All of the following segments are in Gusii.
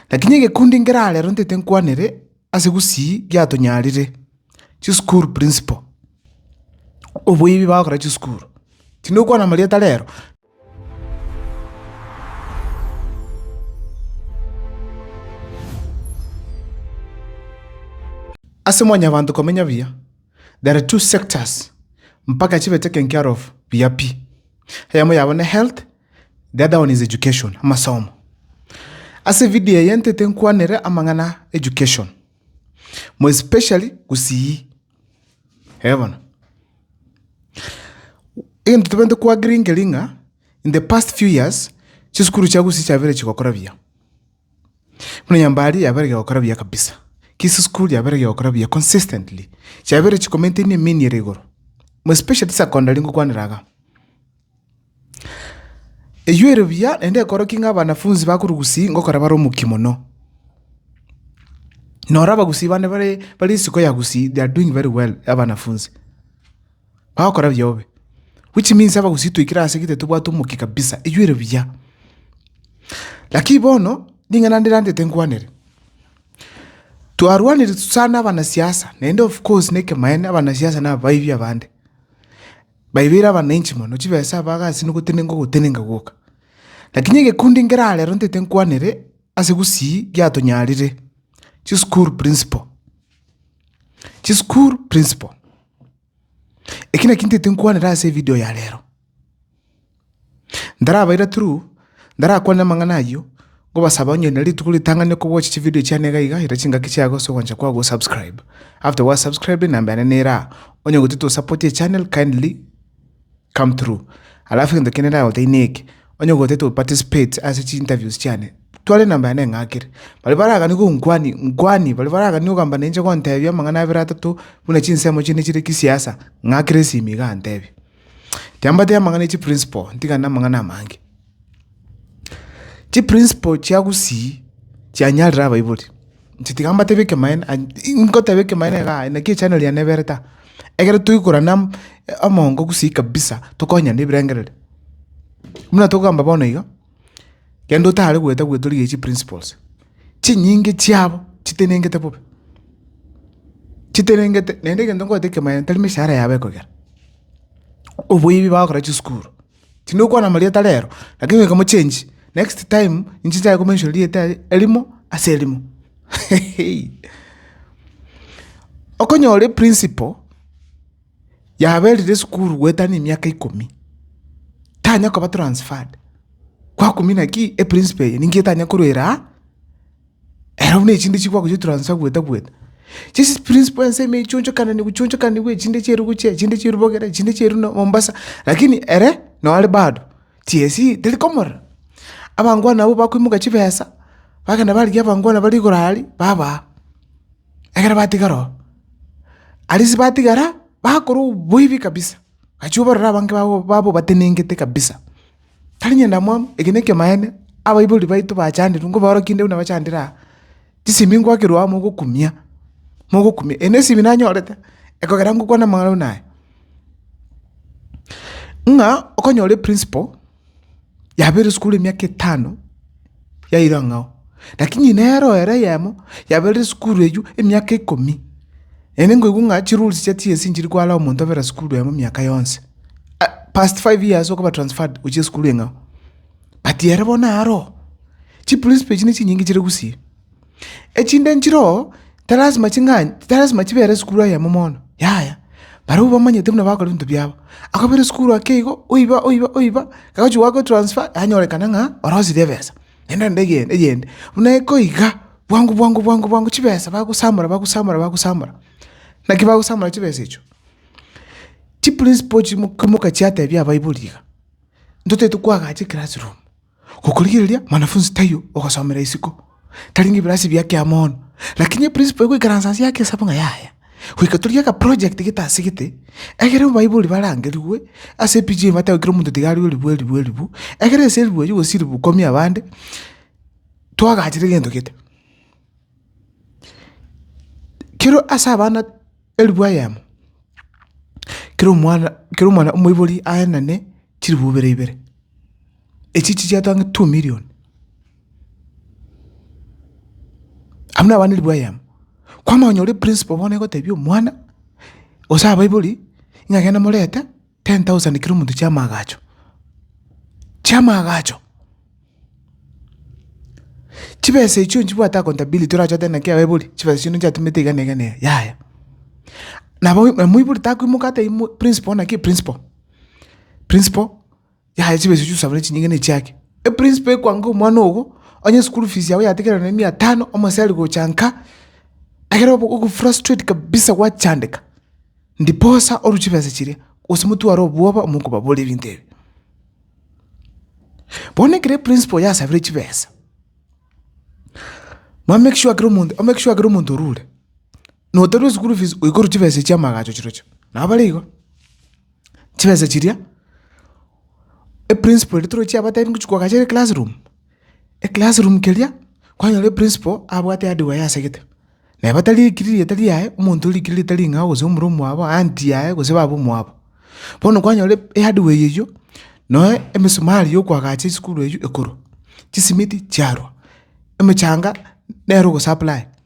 Lakini egekundi nkera arero ntaete nkwanere ase gusii giatonyarire, chisukuru principal, oboibi bagokora chisukuru, tindi gokwana marieta rero. Ase mwanyabanto komenya buya, there are two sectors mpaka chibete kenkiaro of buya pi. Eyemo yabo ne health, The other one is education, amasomo. Ase video eye ntete nkwanere amang'ana a education, more especially gusii. Eeh bono. Egento tobwenerete ko agree nkeri ng'a in the past few years, chisukuru chia gusii chiabeire chigokora buya. Buna Nyambari yabeire egekora buya kabisa. Kisii school yabeire egekora buya consistently. Chiabeire chiko maintain emeniere igoro. More especially secondary ngokwanera iga. Eyio ere buya, naende ekorokia ng'a abanafunsi bakorugusi ngokora bare omokia mono. Noro abagusi bande bare bare isiko ya gusii they are doing very well abanafunsi, bagokora buya bobe, which means abagusi twaikire ase gete tobwate omokia kabisa, eyio ere buya. Lakini bono, ring'ana ndirantete nkwanere, twarwanire sana abanasiasa, naende of course na ekemaene abanasiasa na abaibi abande. Baibeire abanenchi mono, chibesa abaga ase nogotenenka ogotenenka gwoka. Lakini egekundu nkere arero ntaete nkwanere ase gusii giatonyarire, chisukuru principal. Chisukuru principal. Eki naki ntaete nkwanere ase evidio ya rero. Ntarabaira through, ntarakwane amang'ana ayio, nkobasaba onye na rituko ritang'ani okobwatch chividio chiane iga iga, ira chingaki chiago ase ogwancha kwao gosubscribe. After gwasubscribe enamba yane nera aa, onye gotete osapote echannel kindly come through. Alafu egento kende ndagotebia neke, onye gotete oparticipate ase chiinterviews chiane, twara enamba yane eng'akere. Baria baragani gonkwania, nkwania, baria baragani ogamba ninche gontebia amang'ana abere atato buna chinsemo chiane chire kisiasa, ng'akere esimi igaa ntebia. Tiambatia amang'ana echi principle ntigane na amang'ana amange. Chi principle chia gusii chianyarire abaibori inche tiga mbatebie ekemanera ngoteba ekemanera igaa naki echanero yane ebere ta egere toikorane am amongo gusii kabisa tokonyane ebirengereri. Buna togamba bono iga. Kende otare goeta goeta origereire chiprinciples, chinyinge chiabo chitenengete bobe, chitenengete naende egento ngoete ekemanyererio tari emeshahara yabo ekogera, oboibi bagokora chisukuru, tindi gokwana amarieta rero, lakini goika mochengi next time inche nchake ko mention rieta eri erimo ase erimo okonyora eprinciple. yaberire esukuru goeta ne emiaka ikomi, tanya koba transferred, kwakumia naki eprinciple eye ninki etanya korwera aa, ere buna echinde chikwa gochia transfer goeta goeta. Chisi principle ense ime ichonchokananigwa ichonchokanigwa echinde chia Erugucha echinde chia Erubogera echinde chia Eruno Mombasa, lakini ere noo are bado, tiesie teri komorera. Abangwana abwo bakoimoka chibesa, bagenda barigia abangwana bare igoro aria, babaa. ekero batigara oo. Aria ase batigara bakora oboibi kabisa, agachia kobarera abange babo baba obatenengete kabisa. Tari ng'enda mwabo, eke na ekiamaene, abaibori baito bachanderwa nkoba orokie inde buna bachandire aa, chisemi ngoakerwa aa mogokumia, mogokumia. Eye nesemi nanyorete, ekogera ngokwana amang'ana buna aya, ng'a okonyora eprinciple. yabeire esukuru emiaka etano, yaira ang'ao. Rakini nero ere eyemo, yabeire esukuru eywo emiaka ikomi. Naende nkoigwa ng'a chirules chia TSC nchiri koara omonto abere esukuru eyemo emiaka yonsi. Ah past five years okoba transferred gochia esukuru eng'ao. But ere bono aroo, chiprinsipal echi nechinyinge chire gusii. Echinde nchiro tilasima ching'ani, tilasima chibere esukuru eyemo mono, yaya. Barobwo bamanyete buna bagokora ebinto biabo. Akabera esukuru ake igo, oiba, oiba, oiba, agochia goaka etransfer, yanyorekana ng'a orosirie ebesa, naende rende eyende, eyende. Buna ekoiga, bwango, bwango, bwango, bwango, chibesa bagosamora, bagosamora, bagosamora. Naki bagosamora chibesa echio? Chiprinciple chimoka chiatebia abaibori iga, ntotaete koagacha eclassroom. Gokorigereria mwanafunzi taiyo ogosomera isiko, tari ngebilaasi bia kiamono, lakini eprinciple egoikaransa ase yake esabu ng'a yaya, goika torigie akaproject gete ase gete, egere abaibori barangerigwe ase epichi eye batebiwe kera omonto tiga arigwe ribu eribu eribu, egere ase eribu eyio gose ribu ikomi abande, twagachire egento gete. Kero ase abana eribu eyemo, kera omwana kera omwana omoibori aenane chiribu ibere ibere. Echi chichiato ang'e two million. Abwo nabo abana ribwayi amo. Kwamanya onye ore principal bono egotebia omwana, gose abaibori, ng'a genda morete ten thousand kera omonto chia amaagacho, chia amaagacho. Chibesa echio nchibwate accountability orache otebe naki abaibori, chibesa chiaino nchiatumete iga na iga na iga, yaya. Nabo omoibori takoimoka atebi mo principal naki principal, principal, Yaya chibe echi ochiusa buna chinyinga nechiake. Eprinsipal ekwange omwana ogo, onye eschool fees yao yategerane na mia tano, omoseri gocha nka, ekero obo ogofrustrate kabisa gwachandeka, ndiposa orue chibesa chiria, gose motware obwoba amo okobaboria ebinto ebi. Bono ekero eprinsipal oyo asabire chibesa, mwamake sure kera omonto, omake sure kera omonto orure. noterwa eschool fees oikorwe chibesa echi chiamagacho chirochio. Nabo bare igo, chibesa chiria, eprinciple eria toroche yabatebia ngochi kogachere eclass room, eclass room keria kwanyora eprinciple abwate hardware yasegete, neba tari ekiri rieta riaye, omonto orikire rieta ring'ao gose omura omwabo, aunty yaye gose baba omwabo. Bono kwanyora ehardware eywo, noe emesumari yokoagacha esukuru eywo ekorwa, chisimiti chiarwa, emechanga nere ogosupply.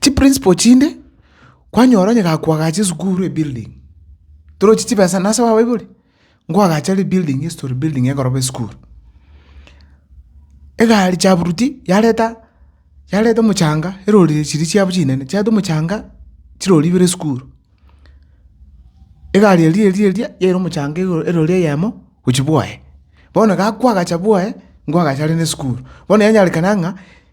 Chiprinciple chinde, kwanyora onye gakoagacha esukuru ebuilding, torochi chibesa nase babaibori? Nkoagacha rebuilding ase to rebuilding egoroba esukuru. Egari chaburuti yareta yareta omochanga erori chiria chiabo chinene chiareta omochanga chirori ibere esukuru, egari eria eria eria yaira omochanga igoro erori eyemo gochia bwoye. Bono gakoagacha bwoye nkoagacha are na esukuru, bono yanyarekana ng'a.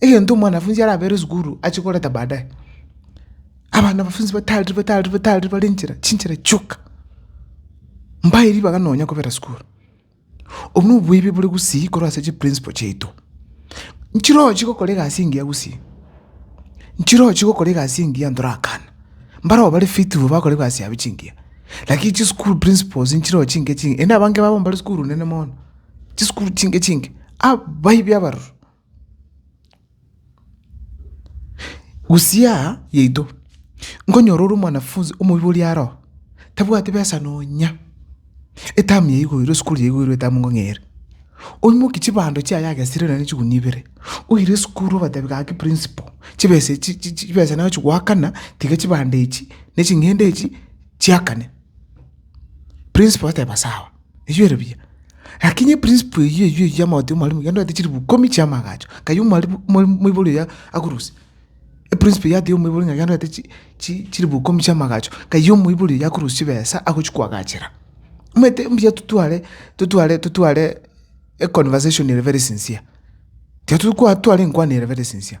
egento omwanafunzi arabere esukuru achie koreta baadaye. Abanafunzi batari batari batari bare nchera, chinchera chioka, mbae ribaga nonya kobera sukuru. Obwo na oboibi bore gusii korwa ase chiprinciple chiaito. Nchirochie gokora egasi engiya gusii, nchirochie gokora egasi engiya ntorakana, mbarabwo bare faithful bakora egasi yabo chingiya, lakini chisukuru principles nchirochio chinke chinke, naende abange babo mbare sukuru nene mono, chisukuru chinke chinke, abaibi abaroro. Gusii aa yaito, nkonyora ore omwanafunzi omoibi oria aro, tabwati besa nonya, etamu ya igoirwe, esukuru ya igoirwe etamu nkong'eire, oimoki chibando chiaye agesire nonye chigunia ibere, oire esukuru obatebi gaki principal, chibesa echi chi chi chibesa nachi goakana, tiga chibando echi, ne ching'ende echi chiakane. Principal oteba sawa. Ebiere biya. Lakini eprinsipo eyio eyio eyio y'amagote y'omwarimu yandwete chilifu ikomi chi'amagacho, nkaye omwarimu omwarimu omoibori oria akorusia. Eprinsipo eyio ate y'omoibori ng'a yandwete chi chi chilifu ikomi chi'amagacho, nkaye omoibori oria akorusia chibesa agochia koagachera. Omanyete mbuya totware totware totware econversation ere very sincere. Tiga tokwa tware enkwana ere very sincere.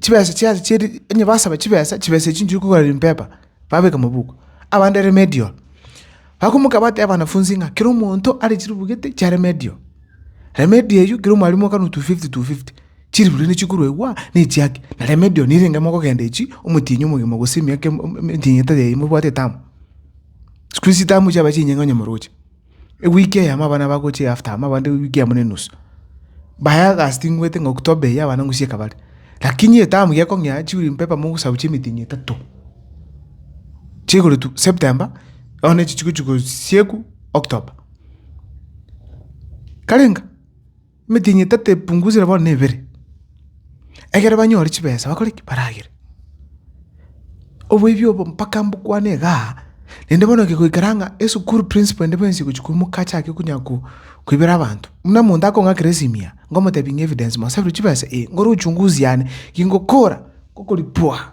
chibesa chiaye chia ri, onye basaba chibesa, chibesa echio nchiri kogora rimpepper, babeka mabuku, abande remedial. Bakomoka bateba abanafunzi ng'a kera omonto are chiribugete chia remedial. Remedial eywo kera omwalimu okanwa two fifty two fifty, chiribuge nichikorwa igwa, na echiake, na remedial nigo erenge mogogenda echi omotienyi omogima gose emiaka em- em- emitinyi etari eyio mobwate etamu. Sikuisi etamu chiabae chinyinge onye moroche. ewiki eyemo abana bagochia after amo abande ewiki eyemo na enusu, baye august ngwete ng'a october eye abana ng'we chieka bare, lakini etamu gekong'ea chibuli mpeba mogosabu chia emetinyi etato, chigoretwa september bono echi chigochi gosiekwa october. Karenga. Emetienyi etato epungusire bono nebere, ekero banyore chibesa bakore ki? Baragere. Oboibi obo mpaka mbokwane igaa, naende bono gegoikera ng'a esukuru principal ende bwensi egochia koimoka achake konya ko koibera abanto. Buna omonto akong'akera esimia, ngomotebi ng'a evidence mosabeire chibesa? Ee, nkore uchunguzi yane, ki ngokora? Ngokoripua.